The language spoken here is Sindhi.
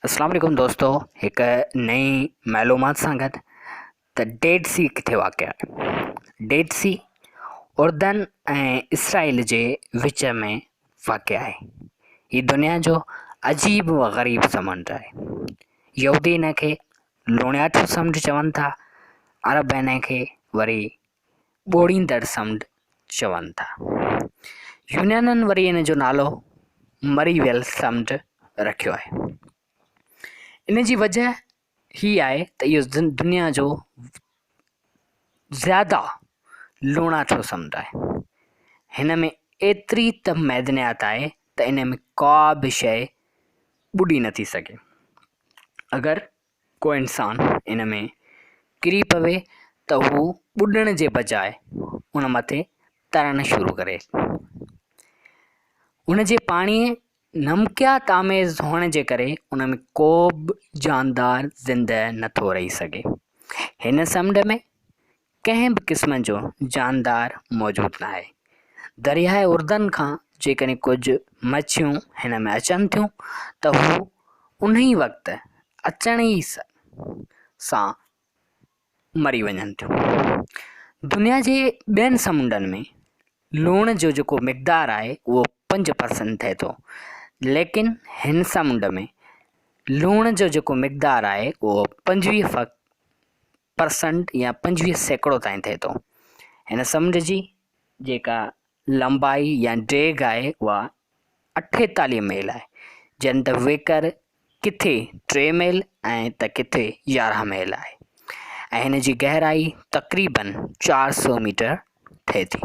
اسلام عليڪم دوستو هڪ نئين معلومات سان گڏ ته ڊيڊ سي ڪٿي واقع آهي ڊيڊ سي اردن ۽ اسرائيل جي وچ ۾ واقع آهي هي دنيا جو عجيب و غريب سمنڊ آهي يهودي هن کي لوڻياٺو سمنڊ چون ٿا عرب هن کي وري ٻوڙيندڙ سمنڊ چون ٿا. يونانن وري ان جو نالو مري ويل سمنڊ رکيو آهي. ان جي وجهه هي آهي ته اهو دنيا جو زياده لوڻاٺو سمنڊ آهي. هن ۾ ايتري ته معدنيات آهي ته ان ۾ ڪا به شيء ٻڏي نٿي سگهي. اگر ڪو انسان ان ۾ ڪري پوي ته هو ٻڏڻ جي بجاء ان مٿي ترڻ شروع ڪري ان جي پاڻي نمڪيات آميز هئڻ جي ڪري ان ۾ ڪو به جاندار زندهه نٿو رهي سگهي هن سمنڊ ۾ ڪنهن به قسم جو جاندار موجود ناهي. درياء اردن کان جيڪڏهن ڪجهه مڇيون هن ۾ اچن ٿيون ته هو انهي وقت اچڻ ئي سان مري وڃن ٿيون. دنيا جي ٻين سمنڊن ۾ لوڻ جو جيڪو مقدار آهي اهو پنج پرسنٽ ٿئي ٿو ليڪن هن سمنڊ ۾ لوڻ جو جيڪو مقدار آهي اهو پنجويهه پرسنٽ يا پنجويهه سيڪڙو تائين ٿئي ٿو. هن سمنڊ جي جيڪا لنبائي يا ڊيگهه آهي اها اٺيتاليهه ميل آهي، جڏهن ته ويڪر ڪٿي ٽي ميل ۽ ته ڪٿي يارهن ميل آهي ۽ هن جي گهرائي تقريبن چار سؤ ميٽر ٿئي ٿي.